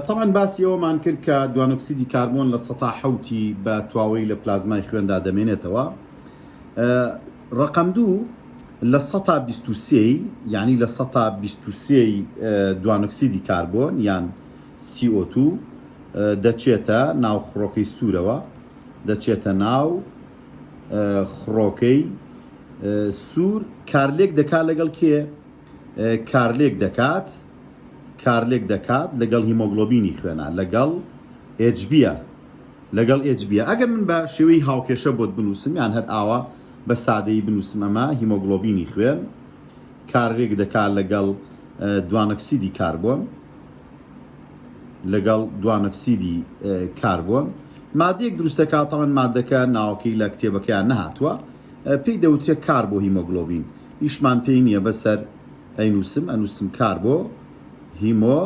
تەبعەن باسی ئەوەمان کرد کە دوانۆکسیدی کاربۆن لە سەتا حوتی بە تواوەی لە پلازمای خوێندا دەمێنێتەوە ڕقم دوو لە سەتا بیستوسی یعنی لە سەتا بیستوسی دوانۆکسیدی کاربۆن یان CO2 دەچێتە ناو خڕۆکەی سوورەوە دەچێتە ناو خڕۆکەی سوور کارلێک دەکا لەگەڵ کێ کارلێک دەکات کارلێک دەکات لەگەڵ هیمۆگلۆبینی خوێنا لەگەڵ ئێجبیە لەگەڵ ئێجبیە ئەگەر من بە شێوەی هاوکێشە بۆت بنووسم یان هەر ئاوا بە سادەی بنووسم ئەمە هیمۆگلۆبینی خوێن کارلێک دەکات لەگەڵ دوانەکسیدی کاربۆن لەگەڵ دوانەکسیدی کاربۆن مادەیەک دروستەکاتەوەن مادەکە ناوەکەی لە کتێبەکەیان نەهاتووە پێی دەوترێ کار بۆ هیمۆگڵۆبین ئیشمان پێی نیە بەسەر ئەینوسم ئەنوسم کار بۆ هیمۆ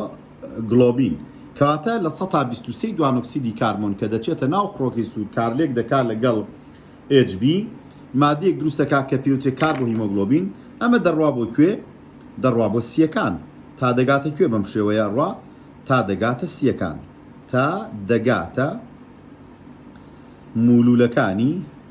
گڵۆبین کەواتە لە سەتا بیست و سێی دوانۆکسیدی کاربۆن کە دەچێتە ناو خڕۆکەی سوور کارلێک دەکا لەگەڵ ئێج بی مادەیەک دروستەکە کە پێوتێ کار بۆ هیمۆگڵۆبین ئەمە دەڕوا بۆ کوێ دەڕوا بۆ سیەکان تا دەگاتە کوێ بەم شێوەیە ڕوا تا دەگاتە سیەکان تا دەگاتە مولولەکانی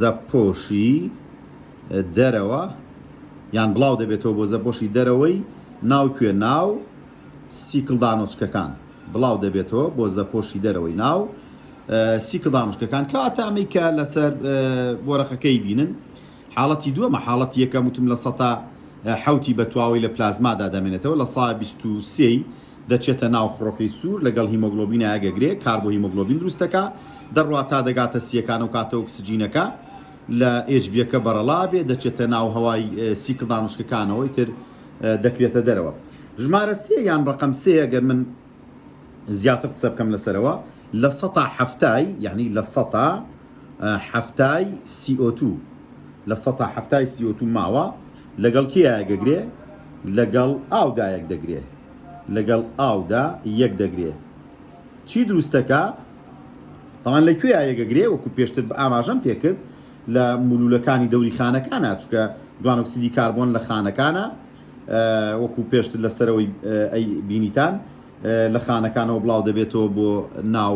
زەپۆشی دەرەوە یان بڵاو دەبێتەوە بۆ زەپۆشی دەرەوەی ناو کوێ ناو سیکل دانۆچکەکان بڵاو دەبێتەوە بۆ زەپۆشی دەرەوەی ناو سیکل دانۆچکەکان کەواتە ئەمەی کە لەسەر بۆرەقەکەی بینن حاڵەتی دووەمە حاڵەتی یەکەم وتم لە سەتا حوتی بە تواوەی لە پلازمادا دەمێنێتەوە لە سا بیست و سێی دەچێتە ناو خڕۆکەی سوور لەگەڵ هیمۆگڵۆبینە ئەگەگرێ کار بۆ هیمۆگڵۆبین دروست دەکا دەڕوا تا دەگاتە سییەکان ئەو کاتە ئۆکسجینەکە لە ئێچبییەکە بەڕەڵا بێ دەچێتە ناو هەوای سیکڵ دانووشکەکانەوە ئیتر دەکرێتە دەرەوە ژمارە سێ یان ڕەقەم سێ ئەگەر من زیاتر قسە بکەم لەسەرەوە لە سەتا حەفتای یعنی لە سەتا حەفتای سی ئۆ توو لە سەتا حەفتای سی ئۆ توو ماوە لەگەڵ کێ یایەگەگرێ لەگەڵ ئاو دا یەک دەگرێ لەگەڵ ئاو دا یەک دەگرێ چی دروستەکە تاوان لە کوێ یایەگەگرێ وەکو پێشتر بە ئاماژەم پێکرد لە مولولەکانی دەوری خانەکانە چکە دوانۆکسیدی کاربۆن لە خانەکانە وەکو پێشتر لە سەرەوەی ئەی بینیتان لە خانەکانەوە بڵاو دەبێتەوە بۆ ناو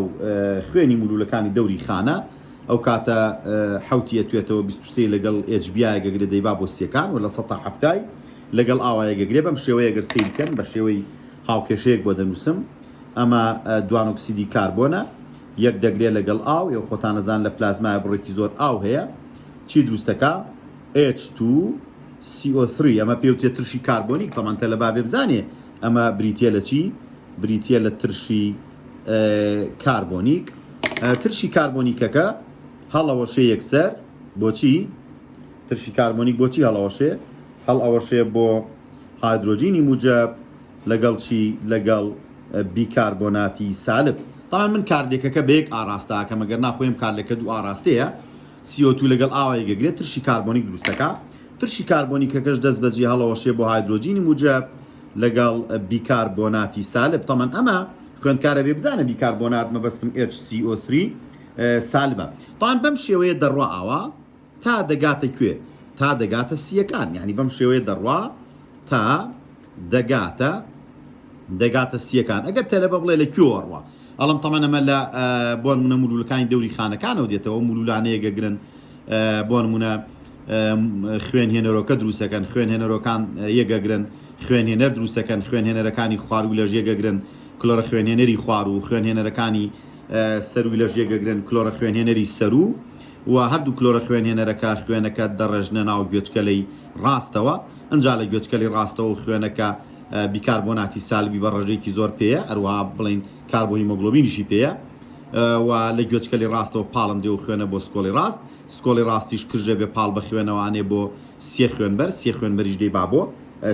خوێنی مولولەکانی دەوری خانە ئەو کاتە حەوتی ئەتوێتەوە بیست و سێی لەگەڵ ئێچ بیایە گەگرێ دەیبا بۆ سیەکان و لە سەد تا حەفتای لەگەڵ ئاوایە گەگرێ بەم شێوەیە گەر سەیری کەن بە شێوەی هاوکێشەیەک بۆ دەنووسم ئەمە دوانۆکسیدی کاربۆنە یەک دەگرێ لەگەڵ ئاو یو خۆتانەزان لە پلازمایە بڕێکی زۆر ئاو هەیە چی دروستەکە H2 CO3 ئەمە پێوتێ ترشی کاربۆنیک تەمەن تەلەبا بێ بزانێ ئەمە بریتییە لە چی؟ بریتییە لە ترشی کاربۆنیک ترشی کاربۆنیکەکە هەڵەوەشێ یەکسەر بۆچی ترشی کاربۆنیک بۆچی هەڵەوەشێ هەڵ ئەوەشێ بۆ هایدرۆجینی موجب لەگەڵ چی لەگەڵ بیکاربۆناتی سالب تاان من کارلێکەکە بەیەک ئاراستاکە مەگەر ناخۆیم کارلەکە دوو ئاراستەیە CO2 لەگەڵ ئاو یەکدەگرێت ترشی کاربۆنیک دروست دەکا، ترشی کاربۆنیکەکەش دەستبەجی هەڵەوەشێ بۆ هایدرۆجینی موجەب لەگەڵ بیکاربۆناتی سالب، تەمەن ئەمە خوێندکارە بێ بزانە بیکاربۆنات مەبەستم HCO3 سالبە. تەمەن بەم شێوەیە دەڕوا ئاوا تا دەگاتە کوێ؟ تا دەگاتە سییەکان، یانی بەم شێوەیە دەڕوا تا دەگاتە دەگاتە سییەکان، ئەگەر تەلەبە بڵێ لە کوێوە ڕوا؟ ئەڵم تەمەن ئەمە لە بۆنمونە مولولەکانی دەوری خانەکانەوە دێتەوە مولولانەیە گەگرن بۆنمونە خوێن هێنەرۆکە دروستەکەن خوێن هێنەرۆکان یەگەگرن خوێن هێنەر دروستەکەن خوێن هێنەرەکانی خواروو لە ژێگەگرن کلۆرە خوێنێنەری خوار و خوێن هێنەرەکانی سەروی لە ژێگەگرن کلۆرە خوێن هێنەری سەرو و هەردوو کلۆرە خوێن هێنەرەکە خوێنەکە دەڕێژنە ناو گوێچکەلەی ڕاستەوە ئەجا لە گوێچکەلی ڕاستەوە خوێنەکە بیکاربۆناتی سالبی بە ڕێژەیەکی زۆر پێیە ئەروها بڵین کاربۆهیمۆگلۆبینیشی پێیە و لە گوێچکەلی ڕاستەوە پاڵندێ و خوێنە بۆ سکۆڵی ڕاست سکۆڵی ڕاستیش کرژە بێ پاڵ بە خوێنەوانێ بۆ سێ خوێنبەر سێ خوێنبەریش دەی با بۆ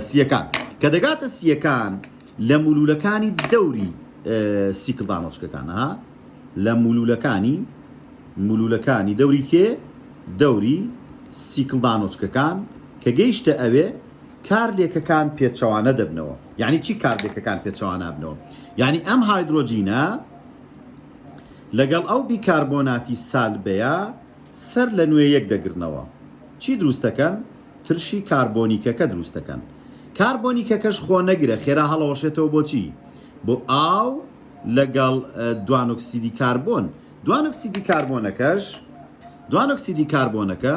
سیەکان کە دەگاتە سیەکان لە مولولەکانی دەوری سیکلدانۆچکەکانە لە مولولەکانی مولولەکانی دەوری کێ دەوری سیکلدانۆچکەکان کە گەیشتە ئەوێ کارلێکەکان پێچەوانە دەبنەوە یعنی چی کارلێکەکان پێچەوانابنەوە یعنی ئەم هایدرۆجینە لەگەڵ ئەو بیکاربۆناتی سالبەیە سەر لە نوێ یەک دەگرنەوە چی دروستەکەن ترشی کاربۆنیکەکە دروستەکەن کاربۆنیکەکەش خۆ نەگرە خێرا هەڵەوەشێتەوە بۆچی بۆ ئاو لەگەڵ دوانۆکسیدی کاربۆن دوانۆکسیدی کاربۆنەکەش دوانۆکسیدی کاربۆنەکە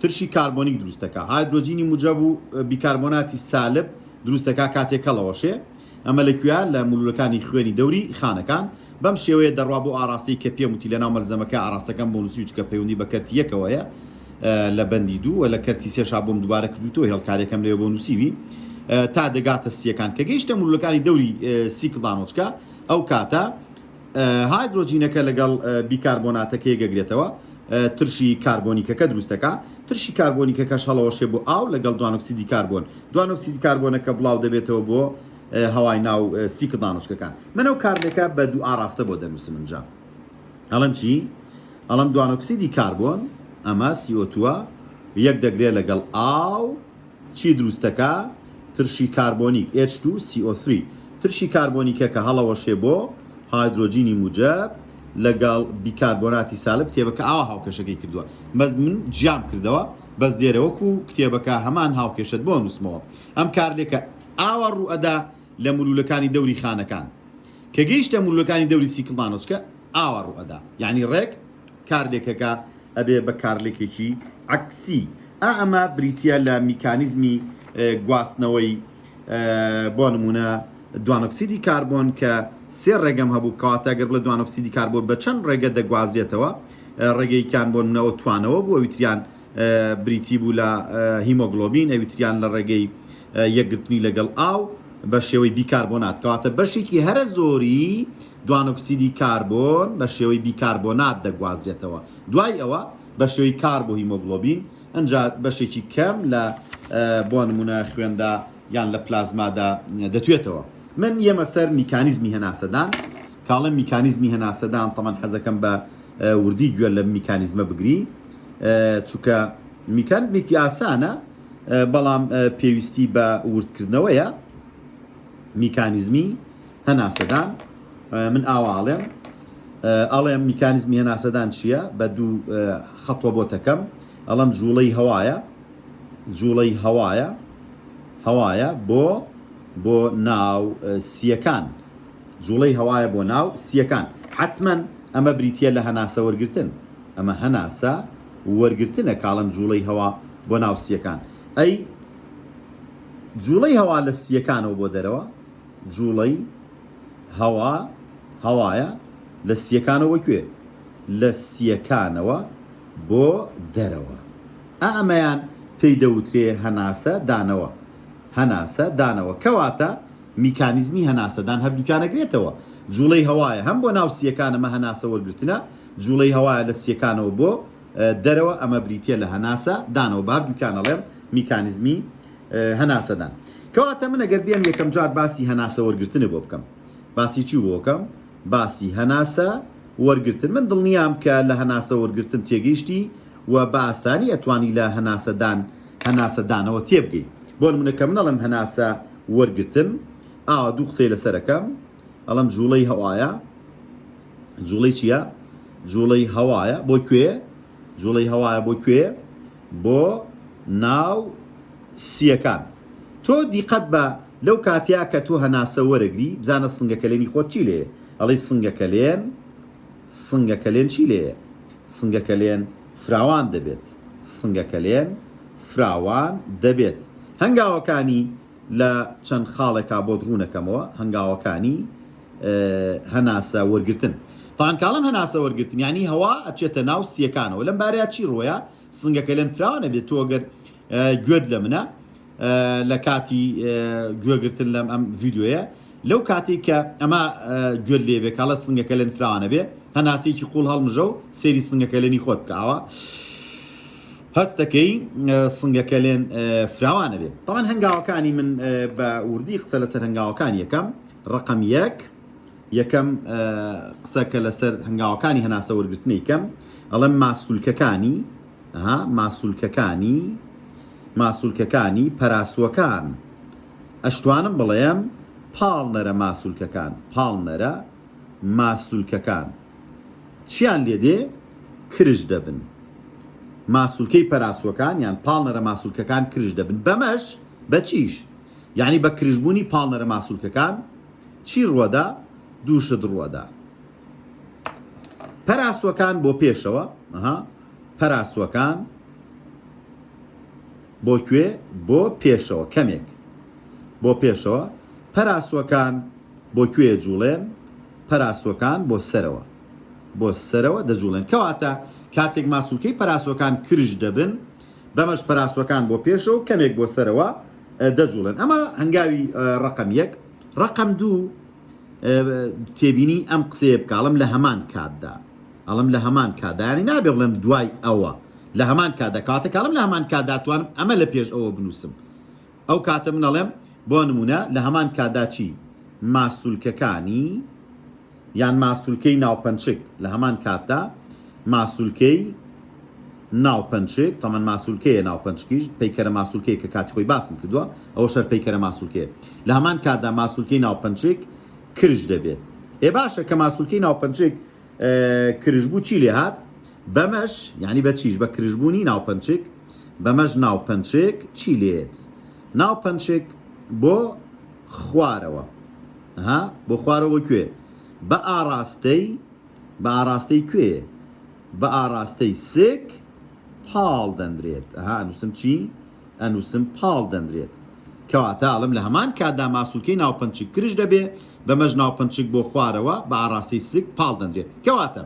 ترشی کاربۆنیک دروست دەکات، هایدرۆجینی موجەب و بیکاربۆناتی سالب دروست دەکات کاتێک کەڵەوەشێ، ئەمە لەکوێیە؟ لە مولولەکانی خوێنی دەوری خانەکان، بەم شێوەیە دەڕوا بۆ ئاڕاستەی کە پێم وتی لەناو مەلزەمەکە ئاڕاستەکەم بۆ نووسیوو چکە پەیوەندی بە کەرتی یەکەوە هەیە لە بەندی دوو وە لە کەرتی سێشا بۆم دووبارە کردووتەوە هێڵکارەکەم لەوێ بۆ نووسیوی تا دەگاتە سیەکان کە گەیشتە مولولەکانی دەوری سیکڵدانۆچکە ئەو کاتە هایدرۆجینەکە لەگەڵ بیکاربۆناتەکەی دەگرێتەوە، ترشی کاربۆنیکەکە دروست دەکا، ترشی کاربۆنیکەکەش هەڵەوەشێ بۆ ئاو لەگەڵ دوانۆکسیدی کاربۆن، دوانۆکسیدی کاربۆنەکە بڵاو دەبێتەوە بۆ هەوای ناو سیکڵ دانۆچکەکان. من ئەو کارلێکە بە دوو ئاڕاستە بۆ دەنووسم ئنجا ئەڵێم چی؟ ئەڵێم دوانۆکسیدی کاربۆن، ئەمە CO2 ە، یەک دەگرێ لەگەڵ ئاو، چی دروست دەکا؟ ترشی کاربۆنیک، ئێچ توو سی ئۆ ثری، ترشی کاربۆنیکە کە هەڵەوەشێ بۆ هایدرۆجینی موجەب لەگەڵ بیکاربۆناتی سالب کتێبەکە ئاوا هاوکێشەکەی کردووە بەس من جیام کردەوە بەس دێرە وەکو کتێبەکە هەمان هاوکێشەت بۆ ئەنووسمەوە ئەم کارلێکە ئاوا ڕوو ئەدا لە ملوولەکانی دەوری خانەکان کە گەیشتە ملوولەکانی دەوری سیکڵمانۆچکە ئاوا ڕوو ئەدا یانی ڕێک کارلێکەکە ئەبێ بە کارلێکێکی عەکسی ئا ئەمە بریتیە لە میکانیزمی گواستنەوەی بۆ نمونە دوانۆکسیدی کاربۆن کە سێ ڕێگەم هەبوو کاتە گەر بڵە دوانۆکسیدی کاربۆن بە چەند ڕێگە دەگوازرێتەوە ڕێگەیکیان بۆ نمونەوە توانەوە بوو ئەویتریان بریتی بوو لە هیمۆگلۆبین ئەویتریان لە ڕێگەی یەکگرتنی لەگەڵ ئاو بە شێوەی بیکاربۆنات کەواتە بەشێکی هەرە زۆری دوانۆکسیدی کاربۆن بە شێوەی بیکاربۆنات دەگوازرێتەوە، دوای ئەوە بە شێوەی کاربۆهیمۆگڵۆبین، ئنجا بەشێکی کەم لە بۆ نموونە خوێندا یان لە پلازمادا دەتوێتەوە. من یەمە سەر میکانیزمی هەناسەدان، کە ئەڵێم میکانیزمی هەناسەدان تەبەن حەزەکەم بە وردی گوێ لەم میکانیزمە بگری، چونکە میکانیزمێکی ئاسانە، بەڵام پێویستی بە وردکردنەوەیە. میکانیزمی هەناسەدان من ئاوا ئەڵێم ئەڵێم میکانیزمی هەناسەدان چییە بە دوو خەتوە بۆ تەکەم ئەڵم جوڵەی هەوایە جوڵەی هەوایە هەوایە بۆ بۆ ناو سیەکان جوڵەی هەوایە بۆ ناو سیەکان حتمما ئەمە بریتە لە هەناسە وەرگتن ئەمە هەناسە وەرگتنە کاڵم جوڵەی هەوا بۆ ناو سیەکان ئەی جووڵەی هەوا لە سییەکانەوە بۆ دەرەوە، جووڵەی هەوا هەوایە لە سییەکانەوە بۆ کوێ؟ لە سییەکانەوە بۆ دەرەوە. ئا ئەمەیان پێی دەوترێ هەناسە دانەوە. هەناسە دانەوە. کەواتە میکانیزمی هەناسەدان هەردووکیان ئەگرێتەوە. جووڵەی هەوایە هەم بۆ ناو سییەکان ئەمە هەناسە وەرگرتنە، جووڵەی هەوایە لە سییەکانەوە بۆ. دەرەوە ئەمە بریتیە لە هەناسە دانەوە بە هەردووکیان ئەڵێم میکانزمی هەناسەدان کەواتە من ئەگەر بێم یەکەم جار باسی هەناسە وەرگتنە بۆ بکەم باسی چی بۆکەم باسی هەناسە وەرگتن من دڵنیام کە لە هەناسە وەرگتن تێگەیشتی و بە ئاسانی ئەتوانی لە هەناسەدان هەناسەدانەوە تێبگەی بۆ منەکە منەڵم هەناسە وەرگتن ئاوا دوو قسەی لەسەرەکەم ئەڵم جوڵەی هەوایە جوڵەی چیە جوڵەی هەوایە بۆ کوێ جوڵەی هەوایە بۆ کوێ بۆ ناو سیەکان تۆ دیقەت بە لەو کاتیا کە تۆ هەناسە وەرەگری بزانە سنگەکەلێنی خۆت چی لێ ئەڵی سنگەکەلێن سنگەکەلێن چی لێ سنگەکەلێن فراوان دەبێت سنگەکەلێن فراوان دەبێت هەنگاوەکانی لە چەند خاڵێکا بۆت ڕوونەکەمەوە هەنگاوەکانی هەناسە وەرگتن تان کاڵم هەناسە وەرگتن ینی هەوا ئەچێتە ناو سیەکانەوە لەم بارەیە چی ڕۆیە سنگەکە لەن فراوە نەبێت تۆگەر گوێت لە منە لە کاتی گوێگرتن لەم ئەم ڤیددیوە لەو کاتی کە ئەمە گوێت لێبێ کاڵە سنگەکە لەن فراوانە بێ هەناسێکی قوڵ هەڵمژە و سێری سنگەکە لەنی خۆت کاوە هەست دەکەی سنگە کەلێن فراوان ئەبێ تاوان هەنگاوەکانی من بە وردی قسە لەسەر هەنگاوەکان یەکەم ڕقم یەک یەکەم قسە کە لەسەر هەنگاوەکانی هەناسە وەرگرتنی کەم ئەڵم ماسوولکەکانی ها ماسوولکەکانی ماسوولکەکانی پەراسوەکان ئەشتوانم بڵێم پاڵنەرە ماسوولکەکان پاڵنەرە ماسوولکەکان چیان لێ دێ کرژ دەبن. ماسولکەی پەراسوەکان یان پاڵنەرە ماسولکەکان کرژ دەبن بەمەش بە چیش یعنی بە کرژ بوونی پاڵنەرە ماسولکەکان چی ڕوەدا دوو شت ڕوەدا پەراسوەکان بۆ پێشەوە ها پەراسوەکان بۆ کوێ بۆ پێشەوە کەمێک بۆ پێشەوە پەراسوەکان بۆ کوێ ئەجوڵێن؟ پەراسۆکان بۆ سەرەوە بۆ سەرەوە دەجوڵێن کەواتە کاتێک ماسولکەی پەراسۆکان کرژ دەبن بەمەش پەراسۆکان بۆ پێشەوە کەمێک بۆ سەرەوە دەجوڵێن ئەمە هەنگاوی ڕقم یەک ڕقم دوو تێبینی ئەم قسەیە بکڵم لە هەمان کاتدا ئەڵم لە هەمان کادانی نابێ بڵێم دوای ئەوە لە هەمان کادا کاتەکەڵم لە هەمان کاداتوانم ئەمە لە پێش ئەوە بنووسم ئەو کاتە من ئەڵێم بۆ نموونە لە هەمان کاتدا چی ماسولکەکانی یان ماسولکەی ناوپەنچک لە هەمان کاتدا ماسولکەی ناوپەنچک تەمەەن ماسولکەیە ناوپەنچکیش پەیکەرە ماسولکەیە کە کاتی خۆی باسم کردووە ئەو شەر پەیکەرە ماسولکەیە لە هەمان کاتدا ماسولکەی ناوپەنچک کرژ دەبێت ئێ باشە کە ماسولکەی ناوپەنچک کرژبوو چی لێ هات؟ بەمەش یانی بە چیش بە کرژبوونی ناوپەنچک بەمەش ناوپەنچک چی لێت ناوپەنچک بۆ خوارەوە ها بۆ خوارەوە کوێ بە ئاراستەی بە ئاراستەی کوێ بە ئاراستەی سک پاڵ دەندرێت ها نووسم چی ئەنووسم پاڵ دەنرێت کەواتە ئەڵێم لە هەمان کاتدا ماسولکەی ناوپەنچک کرژ دەبێ بەمەش ناوپەنچک بۆ خوارەوە بە ئاڕاستەی سک پاڵ دەنرێت کەواتە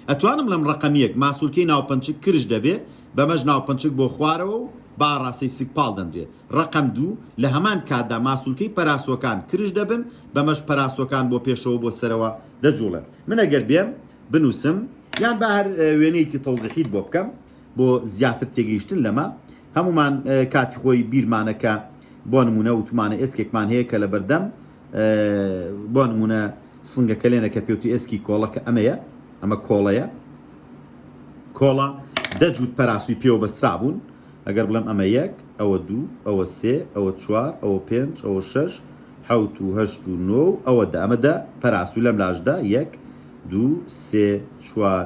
ئەتوانم بڵێم ڕەقەم یەک ماسولکەی ناوپەنچک کرژ دەبێ بەمەش ناوپەنچک بۆ خوارەوە و بە ئاڕاستەی سک پاڵ دەنرێت ڕەقەم دوو لە هەمان کاتدا ماسولکەی پەراسۆکان کرژ دەبن بەمەش پەراسۆکان بۆ پێشەوە بۆ سەرەوە دەجووڵێن من ئەگەر بێم بنووسم یان با هەر وێنەیەکی تەوزیحیت بۆ بکەم بۆ زیاتر تێگەیشتن لەمە، هەموومان کاتی خۆی بیرمانە کە بۆ نموونە وتومانە ئێسکێکمان هەیە کە لەبەردەم بۆ نموونە سنگەکەلێنە کە پێوتی ئێسکی کۆڵە کە ئەمەیە ئەمە کۆڵەیە کۆڵە دەجووت پەراسوی پێوە بەسترا بوون ئەگەر بڵێم ئەمە یەک ئەوە دوو ئەوە سێ ئەوە چوار ئەوە پێنج ئەوە شەش حوت و هەشت و نۆ ئەوە دامەدە پەراسوو لەم لاشدا یەک دوو سێ چوار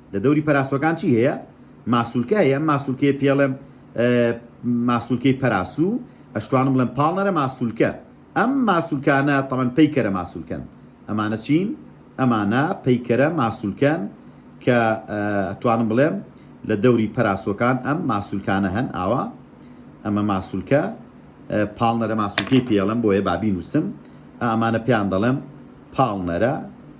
لە دەوری پەراسوەکان چی هەیە؟ ماسولکە هەیە، ئەم ماسولکەیە پێڵێم ماسولکەی پەراسوو، ئەشتوانم بڵێم پاڵنەرە ماسولکە. ئەم ماسولکانە تەمەن پەیکەرە ماسولکەن. ئەمانە چین؟ ئەمانە پەیکەرە ماسولکەن کە ئەتوانم بڵێم لە دەوری پەراسۆکان ئەم ماسولکانە هەن ئاوا ئەمە ماسولکە پاڵنەرە ماسولکەی پێڵم بۆیە بابی نووسم ئامانە پێیان دەڵێم پاڵنەرە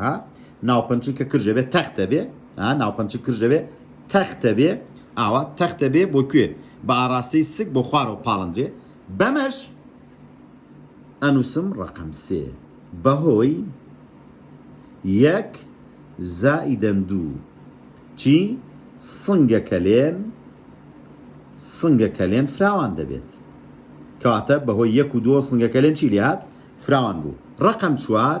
ها ناوپەنچن کە کرژە بێ تەختە بێ ها ناوپەنچ کرژە بێ تەختە بێ ئاوا تەختە بێ بۆ کوێ بە ئاراستەی سک بۆ خوارەوە پاڵندرێ بەمەش ئەنووسم ڕقم سێ بەهۆی یەک زائیدەن دوو چی سنگەکە لێن سنگەکە لێن فراوان دەبێت کەواتە بەهۆی یەک و دووە سنگەکە لێن چی لێهات فراوان بوو ڕقم چوار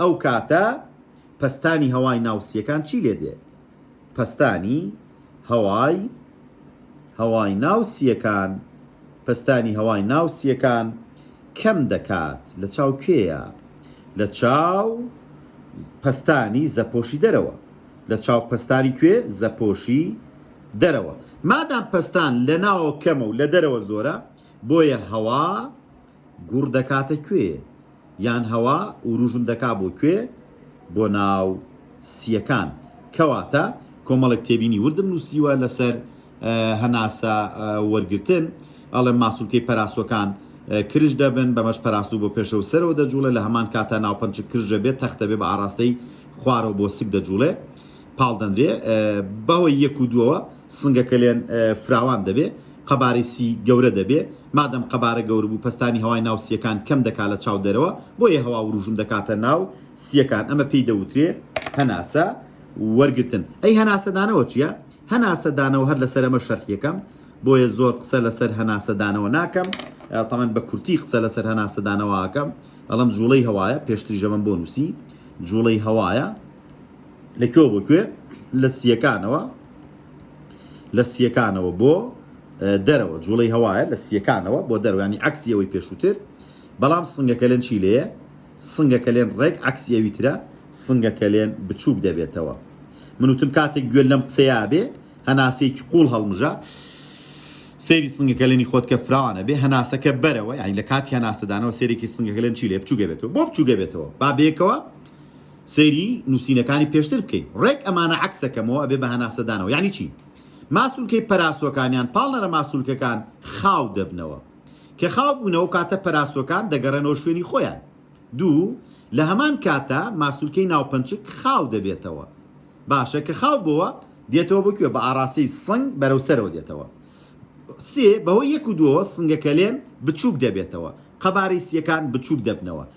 ئەو کاتە پەستانی هەوای ناو سییەکان چی لێ دێ؟ پەستانی هەوای هەوای ناو سییەکان پەستانی هەوای ناو سییەکان کەم دەکات لە چاو کێیە؟ لە چاو پەستانی زەپۆشی دەرەوە لە چاو پەستانی کوێ؟ زەپۆشی دەرەوە مادام پەستان لە ناوە کەمە و لە دەرەوە زۆرە بۆیە هەوا گوڕ دەکاتە کوێ یان هەوا وروژم دەکا بۆ کوێ بۆ ناو سیەکان کەواتە کۆمەڵێک تێبینی وردم نووسیوە لەسەر هەناسە وەرگتن ئەڵێ ماسولکەی پەراسۆکان کرش دەبن بەمەش پەراسو بۆ پێشە و سەرەوە دەجوڵێ لە هەمان کاتا ناوپەنچ کرژە بێت تەختە بێ بە ئاراستەی خوارەوە بۆ سک دەجوڵێ پاڵدەندرێ بەوە یەک و دووەوە سنگەکە لێن فراوان دەبێ قەبارەی سی گەورە دەبێ، مادەم قەبارە گەورە بوو پەستانی هەوای ناو سییەکان کەم دەکا لە چاو دەرەوە، بۆیە هەوا وروژم دەکاتە ناو سییەکان، ئەمە پێی دەوترێ هەناسە وەرگرتن. ئەی هەناسە دانەوە چییە؟ هەناسە دانەوە هەر لەسەر ئەمە شەرحی ئەکەم، بۆیە زۆر قسە لەسەر هەناسە دانەوە ناکەم، تەمەن بە کورتی قسە لەسەر هەناسە دانەوە ئەکەم، ئەڵێم جووڵەی هەوایە، پێشتریش ئەمەم بۆ نووسی، جووڵەی هەوایە، لە کوێ بۆ کوێ لە سیەکانەوە لە سیەکانەوە بۆ دەرەوە جوڵەی هەوایە لە سیەکانەوە بۆ دەروانی عکسی ئەوەی پێشووتر بەڵام سنگەکەلێن چی لێە سنگەکەلێن ڕێک عکسی ئەوی ترە سنگەکەلێن بچووک دەبێتەوە من وتم کاتێک گوێ لەم قسەیە بێ هەناسێکی قوڵ هەڵمژە سێری سنگەکەلێنی خۆت کە فراوانە بێ هەناسەکە بەرەوە یانی لە کاتی هەناسەدانەوە سێرێکی سنگەکەلێن چی لێ بچووگە بێتەوە بۆ بچووگە بێتەوە با بێکەوە سەیری نوسینەکانی پێشتر بکەین ڕێک ئەمانە عەکسەکەمەوە ئەبێ بە هەناسەدانەوە یانی چی ماسولکەی پەراسۆکان یان پاڵنەرە ماسولکەکان خاو دەبنەوە کە خاو بوونەوە کاتە پەراسۆکان دەگەڕێنەوە شوێنی خۆیان دوو لە هەمان کاتە ماسولکەی ناوپەنچک خاو دەبێتەوە باشە کە خاو بووە دێتەوە بکوێ بە ئاراستەی سنگ بەرەو سەرەوە دێتەوە سێ بەهۆی یەک و دووەوە سنگەکەلێن بچووک دەبێتەوە قەبارەی سیەکان بچووک دەبنەوە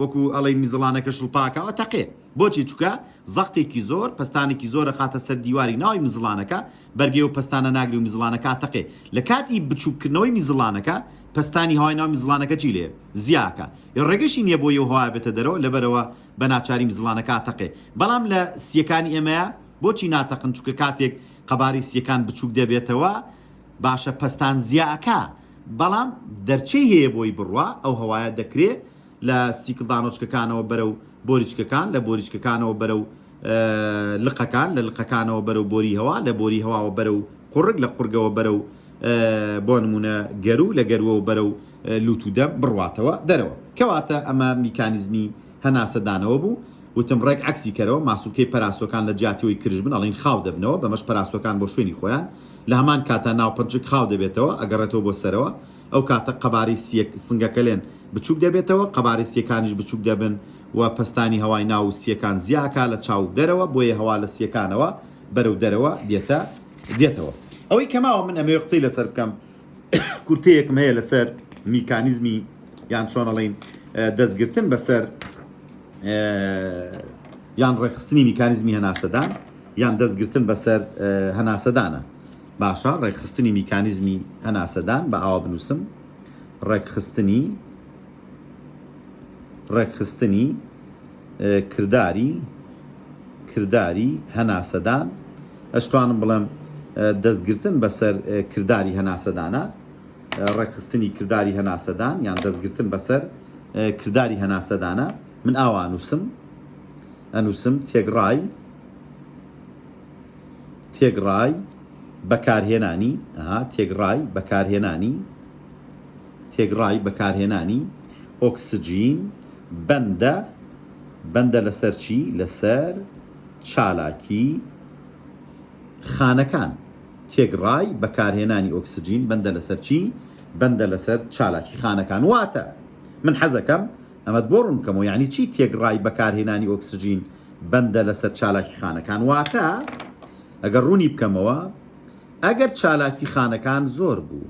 وەکو ئەڵێی مزڵانەکە شڵپاکاوە تەقێ بۆچی چوکە زەقتێکی زۆر پەستانێکی زۆر ئەخاتە سەر دیواری ناوی مزڵانەکە بەرگەی و پەستانە ناگری و مزڵانەکە ئەتەقێ لە کاتی بچوککردنەوەی مزڵانەکە پەستانی هەوای ناو مزڵانەکە چی لێ زیاکە ی ڕێگەشی نییە بۆ یەو هەوای بێتە دەرەوە لەبەرەوە بە ناچاری مزڵانەکە ئەتەقێ بەڵام لە سیەکانی ئێمەیا بۆچی ناتەقن چوکە کاتێک قەبارەی سیەکان بچوک دەبێتەوە باشە پەستان زیا ئەکا بەڵام دەرچەی هەیە بۆی بڕوا، ئەو هەوایە دەکرێ لە سیکلدانۆچکەکانەوە بەرەو بۆریچکەکان، لە بۆریچکەکانەوە بەرەو لقەکان، لە لقەکانەوە بەرەو بۆری هەوا، لە بۆری هەواوە بەرەو قوڕگ، لە قوڕگەوە بەرەو بۆ نموونە گەروو، لە گەرووەوە بەرەو لووت و دەم بڕواتەوە دەرەوە. کەواتە ئەمە میکانیزمی. هەناسەدانەوە بوو، وتم ڕێک عەکسی کەرەوە، ماسولکەی پەراسۆکان لە جیاتی ئەوەی کرژ بن ئەڵێین خاو دەبنەوە، بەمەش پەراسۆکان بۆ شوێنی خۆیان، لە هەمان کاتا ناوپنچک خاو دەبێتەوە، ئەگەڕێتەوە بۆ سەرەوە، ئەو کاتە قەبارەی سیە سنگەکەلێن بچووک دەبێتەوە، قەبارەی سیەکانیش بچووک دەبن و پەستانی هەوای ناو و سیەکان زیا ئەکا لە چاو و دەرەوە، بۆیە هەوا لە سیەکانەوە بەرەو دەرەوە دێتە دێتەوە. ئەوەی کەماوە من ئەمەوێ قسەی لەسەر بکەم، کورتەیەکم هەیە لەسەر میکانیزمی یان چۆنەڵین دەستگرتن بەسەر یان ڕێکخستنی میکانیزمی هەناسەدان یان دەستگرتن بەسەر هەناسەدانە باشە ڕێکخستنی میکانیزمی هەناسەدان بە ئاوا بنووسم ڕێکخستنی ڕێکخستنی کرداری کرداری هەناسەدان ئەشتوانم بڵێم دەستگرتن بەسەر کرداری هەناسەدانە ڕێکخستنی کرداری هەناسەدان یان دەستگرتن بەسەر کرداری هەناسەدانە من ئاوا نووسم ئەنووسم تێگڕای تێگڕای بەکارهێنانی تێگڕای بەکارهێنانی تێکڕای بەکارهێنانی ئۆکسجین بەندە بەندە لەسەر چی؟ لەسەر چالاکی خانەکان. تێکڕای بەکارهێنانی ئۆکسجین بەندە لەسەر چی؟ بەندە لەسەر چالاکی خانەکان. واتە من حەزەکەم ئەمەت بۆ ڕوون بکەمەوە یعنی چی تێکڕای بەکارهێنانی ئۆکسجین بەندە لەسەر چالاکی خانەکان واتە ئەگەر ڕوونی بکەمەوە ئەگەر چالاکی خانەکان زۆر بوو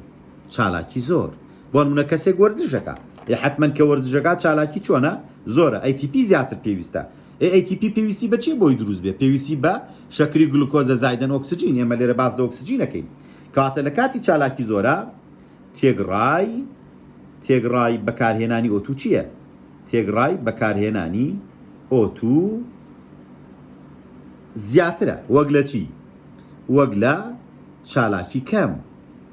چالاکی زۆر بۆنمونە کەسێک وەرزشەکە ئێ حتمما کە وەرزشەکە چالاکی چۆنە زۆرە ئەیتیپی زیاتر پێویستە ئێ ئەیتیپی پێویستی بە چی بۆی دروست بێ پێویستی بە شەکری گلوکۆزە زایدەن ئۆکسجین ئێمە لێرە باز لە ئۆکسجینەکەین کاتە لە کاتی چالاکی زۆرە تێگڕای تێگڕای بەکارهێنانی ئۆتو چییە؟ تێگڕای بەکارهێنانی ئۆتو زیاترە وەک لە چی؟ وەک لە چالاکی کەم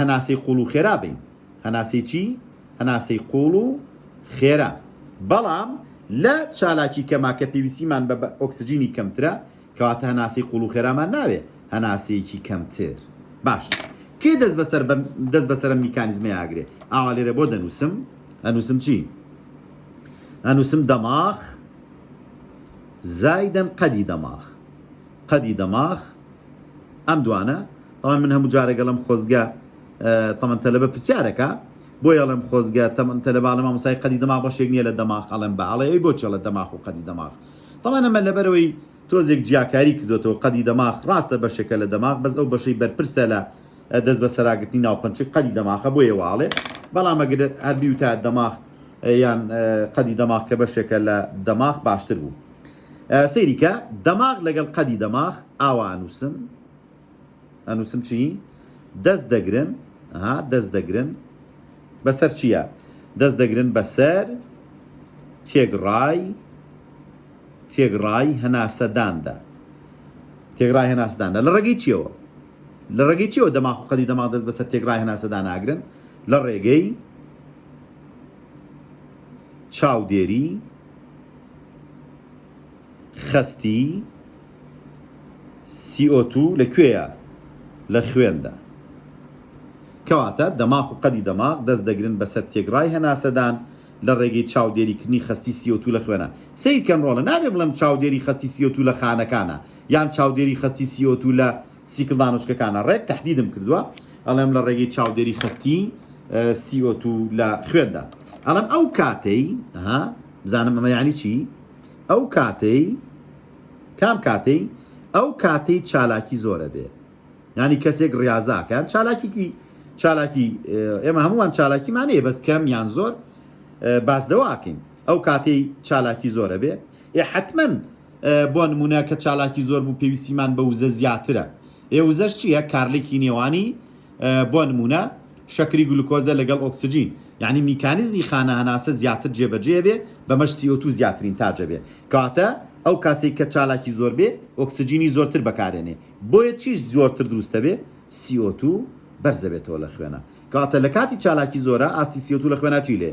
هەناسەی قوڵ و خێرا بین. هەناسەی چی؟ هەناسەی قوڵ و خێرا. بەڵام لە چالاکی کەما کە پێویستیمان بە ئۆکسجینی کەمترە، کەواتە هەناسەی قوڵ و خێرامان ناوێ، هەناسەیەکی کەمتر. باشە. کێ دەست بەسەر بەم دەست بەسەر ئەم میکانیزمەی ئاگرێ؟ ئاوا لێرە بۆ دەنووسم؟ ئەنووسم چی؟ ئەنووسم دەماخ زایدەن قەدی دەماخ. قەدی دەماخ ئەم دوانە تەمان من هەموو جارێک ئەڵێم خۆزگە تەمەن تەلەبە پرسیارەکە بۆی ئەڵێم خۆزگە تەمەن تەلەبە ئەڵێم مامۆستای قەدی دەماغ بەشێک نییە لە دەماغ ئەڵێم بە ئەڵێ ئەی بۆ چێڵە دەماغ و قەدی دەماغ تەمان ئەمە لەبەرەوەی تۆزێک جیاکاری کردوێتەوە قەدی دەماغ ڕاستە بەشێکە لە دەماغ بەس ئەو بەشەی بەرپرسە لە دەست بە سەراگرتنی ناوپەنچی قەدی دەماخە بۆ یێواڵێ بەڵام ئەگەر هەربی و تا دەماغ یان قەدی دەماغ کە بەشێکە لە دەماغ باشتر بوو. سەیری کە دەماغ لەگەڵ قەدی دەماغ ئاوا ئەنووسم ئەنووسم چی دەست دەگرن ها دەست دەگرن بەسەر چییە دەست دەگرن بەسەر تێگڕای تێگڕای هەناسەداندا تێگڕای هەناسداندا لە ڕێگەی چیەوە لە ڕێگەی چیەوە دەماغ و قەدی دەماغ دەست بەسەر تێگڕای هەناسەدان ناگرن لە ڕێگەی چاودێری خەستی CO2 لە کوێیە لە خوێندا کەواتە دەماغ و قەدی دەماغ دەست دەگرن بەسەر تێگڕای هەناسەدان لە ڕێگەی چاودێریکردنی خەستی CO2 لە خوێنە سەیرکەن ڕۆڵە نابێ بڵێم چاودێری خەستی CO2 لە خانەکانە یان چاودێری خەستی CO2 لە سیکلدانۆچکەکانە ڕێک تەحدیدم کردووە ئەڵێم لە ڕێگەی چاودێری خستی سیۆت و لە خوێندا ئەڵم ئەو کاتەی ها بزانم ئەمە یعنی چی ئەو کاتەی کام کاتەی ئەو کاتەی چالاکی زۆرە بێ ینی کەسێک ڕاضاکەیان چالاکیکی چالاکی ئێمە هەمووان چالاکیمانەیە بەس کەم یان زۆر باس دەواکەین ئەو کاتەی چالاکی زۆرە بێ ئێ حتمما بۆ نموونە کە چالاکی زۆر بوو پێویستیمان بە وزە زیاترە ئێ وزەش چییە کارلێکی نێوانی بۆ نموونە شەکری گلوکۆزە لەگەڵ ئۆکسجین یعنی میکانیزمی خانە هەناسە زیاتر جێبەجێ بێ بەمەش سیۆتو زیاترین تاجە بێ کاتە ئەو کاسی کە چالاکی زۆر بێ ئۆکسجینی زۆرتر بەکارێنێ بۆیە چیش زۆرتر دروستە بێ سیۆتو بەرزەبێتەوە لە خوێنە کاتە لە کاتی چالاکی زۆرە ئاستی سیۆتو لە خوێناچی لێ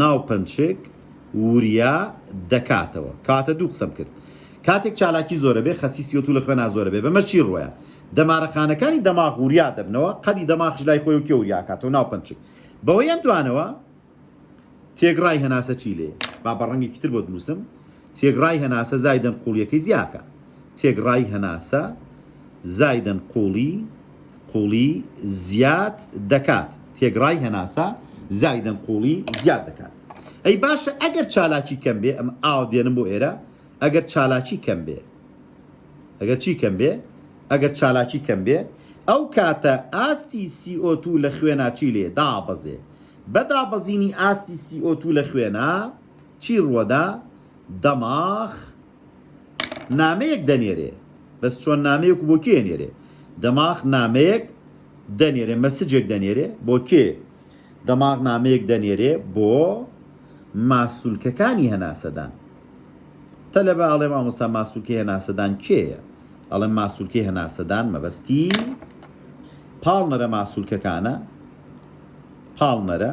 ناو پەنچک وریا دەکاتەوە کاتە دوو قسەم کرد کاتێک چالاکی زۆرە بێ خەسی سیۆ تو لە خوێنا زۆرە بێ بەمە چی ڕۆیە دەمارەخانەکانی دەماغ وریا دەبنەوە قەدی دەماخش لای خۆی و کێ وریاکاتەوە ناو پەنچک بەوەی ئەم دوانەوە تێگڕای هەناسە چی لێ با بە ڕەنگێکی تر بۆ دنووسم تێکڕای هەناسە زایدەن قووڵییەکەی زیاکە تێکڕای هەناسە زایدەن قووڵی قووڵی زیاد دەکات تێکڕای هەناسە زایدەن قووڵی زیاد دەکات ئەی باشە ئەگەر چالاکی کەم بێ ئەم ئاو دێنم بۆ ئێرە ئەگەر چالاکی کەم بێ ئەگەر چی کەم بێ ئەگەر چالاکی کەم بێ ئەو کاتە ئاستی سیئۆتو لە خوێناچی لێ دابەزێ بەدابەزینی ئاستی سیئۆتو لە خوێنە چی ڕوەدا دەماخ نامەیەک دەنێرێ بەس چۆن نامەیەک بۆ کێ نێرێ دەماخ نامەیەک دەنێرێ مەسجێک دەنێرێ بۆ کێ دەماغ نامەیەک دەنێرێ بۆ ماسوولکەکانی هەناسەدان تەلەبە ئاڵێ مامۆستا ماسوولکی هەناسەدان کێیە ئەڵێ ماسوولکی هەناسەدان مەبەستی پاڵنەرە ماسوولکەکانە پاڵنەرە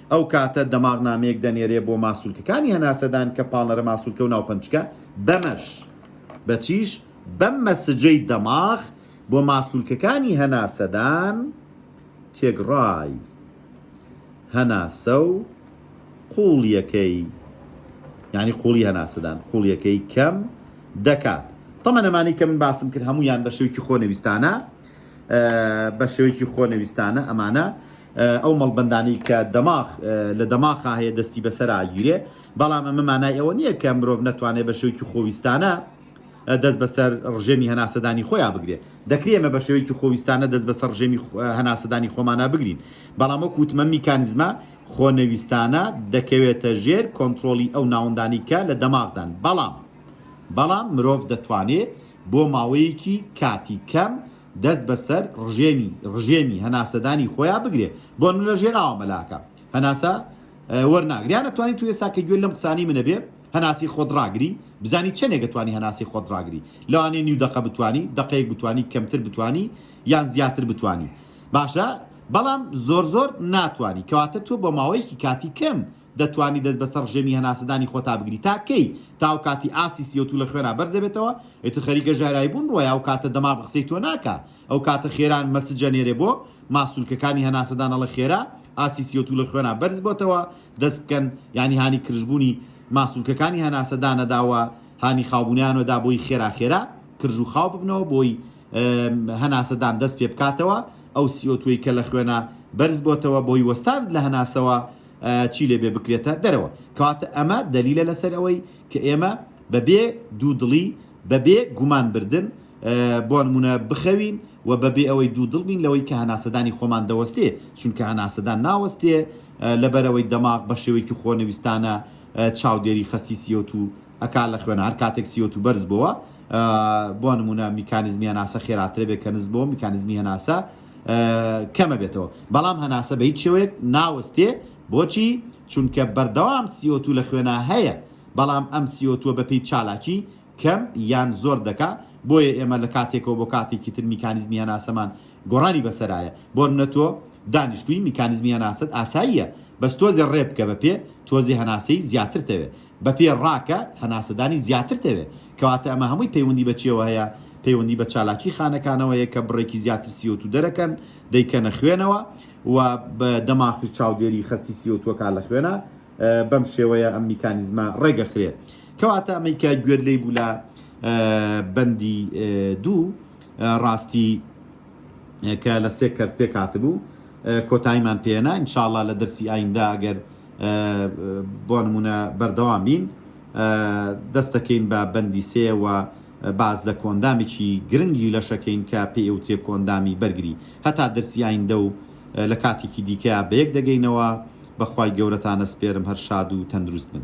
ئەو کاتە دەماغ نامەیەک دەنێرێ بۆ ماسولکەکانی هەناسەدان کە پاڵنەرە ماسولکە و ناوپەنجکە بەمەش بەچیش بەم مەسجەی دەماغ بۆ ماسولکەکانی هەناسەدان تێگڕای هەناسە و قوڵیەکەی یعنی قوڵی هەناسەدان قوڵیەکەی کەم دەکات تەمەنەمانی کە من باسم کرد هەمویان بە شێوکی خۆنەویستانە بە شێوەیەکی خۆنەویستانە ئەمانە ئەو مەڵبەندانەی کە دەماخ لە دەماخا هەیە دەستی بەسەرا گیرێ بەڵام ئەمە مانای ئەوە نییە کە مرۆڤ نەتوانێت بە شێوکی خۆویستانە دەست بەسەر ڕژێمی هەناسەدانی خۆیان بگرێت دەکرێت ئەمە بە شێوکی خۆویستانە دەست بەسەر ڕژێمی هەناسەدانی خۆمانە بگرین بەڵام وەک وتمە میکانزمە خۆنەویستانە دەکەوێتە ژێر کۆنتترۆلی ئەو ناوەندانی کە لە دەماغدان بەڵام بەڵام مرۆڤ دەتوانێت بۆ ماوەیەکی کاتی کەم دەست بەسەر ڕژێمی ڕژێمی هەناسەدانی خۆیان بگرێ بۆ من لە ژێناوە مەلاکە هەناسە وەرناگریان ئەتوانی تو ئێسا کە گوێ لەم قسانی منە بێ هەناسی خۆت ڕاگری بزانی چەندێکە توانی هەناسی خۆت ڕاگری لەوانێ نیو دقە بتانی دقەیەک بتانی کەمتر بتانی یان زیاتر بتانی باشە بەڵام زۆر زۆر ناتانی کەواتە تۆ بە ماوەیەکی کاتی کەم دەتوانی دەست بەسەر ڕژێمی هەناسەدانی خۆتا بگری تا کەی؟ تا ئەو کاتی ئاستی سی ئۆ توو لە خوێنا بەرز دەبێتەوە ئیتر خەریکە ژایرایی بوون ڕۆیە ئەو کاتە دەماغ قسەی تۆ ناکا ئەو کاتە خێران مەسج ئەنێرێ بۆ ماسولکەکانی هەناسەدان ئەڵێ خێرا ئاستی سی ئۆ توو لە خوێنا بەرز بۆتەوە دەست بکەن یانی هانی کرژ بوونی ماسولکەکانی هەناسەدانە داوە هانی خاوبوونیانەوە دا بۆی خێرا خێرا کرژ و خاو ببنەوە بۆی هەناسەدان دەست پێ بکاتەوە ئەو سی ئۆ تووی کە لە خوێنا بەرز بۆتەوە بۆی وەستاند لە هەناسەوە چی لێبێ بکرێتە دەرەوە. کەواتە ئەمە دەلیلە لەسەر ئەوەی کە ئێمە بەبێ دوودڵی، بەبێ گومان بردن بۆ نموونە بخەوین و بەبێ ئەوەی دوودڵ بین لەوەی کە هەناسەدانی خۆمان دەوەستێ، چونکە هەناسەدان ناوەستێ لەبەر ئەوەی دەماغ بە شێوەیەکی خۆنەویستانە چاودێری خەستی سی ئۆ توو ئەکا لە خوێنا، هەر کاتێک سی ئۆ توو بەرز بۆوە بۆ نموونە میکانیزمی هەناسە خێراترە بێ کە نزم بۆوە میکانیزمی هەناسە کەمە بێتەوە بەڵام هەناسە بەهیچ شێوەیەک ناوەستێ بۆچی چونکە بەردەوام سیۆتو لە خوێنا هەیە بەڵام ئەم سیۆتوە بەپی چالاکی کەم یان زۆر دەکا بۆیە ئێمە لە کاتێکەوە بۆ کاتێکی تر میکانیزمی هەناسەمان گۆڕانی بەسەرایە بۆرمنە تۆ دانیشتوی میکانیزمی هەناسەت ئاساییە بەس تۆزێ ڕێ بکە بەپێ تۆزێ هەناسەی زیاترتەوێ بەپێ ڕاکە هەناسەدانی زیاترت ئەوێ، کەواتە ئەمە هەمووی پەیوەندی بە چیەوە هەیە؟ پەیوەندی بە چالاکی خانەکانەوە هەیە کە بڕێکی زیاتر سی ئۆ تو دەرەکەن دەیکەنە خوێنەوە و دەماخش چاودێری خەستی سی ئۆ توەکە لە خوێنە بەم شێوەیە ئەم میکانیزمە ڕێگەخرێ کەواتە ئەمەی کە گوێت لێی بوو لە بەندی دوو ڕاستی کە لە سێ کەرت پێک هاتبوو کۆتاییمان پێنا ان شاء اللە لە دەرسی ئایندە ئەگەر بۆ نمونە بەردەوام بین دەست دەکەین بە بەندی سێ و باز لە کۆندامێکی گرنگی لەشەکەین کە پێ ئەوترێ کۆندامی بەرگری هەتا دەرسی ئایندە و لە کاتێکی دیکە بەیەک دەگەینەوە بەخوای گەورەتانە سپێرم هەر شاد و تەندروست بن.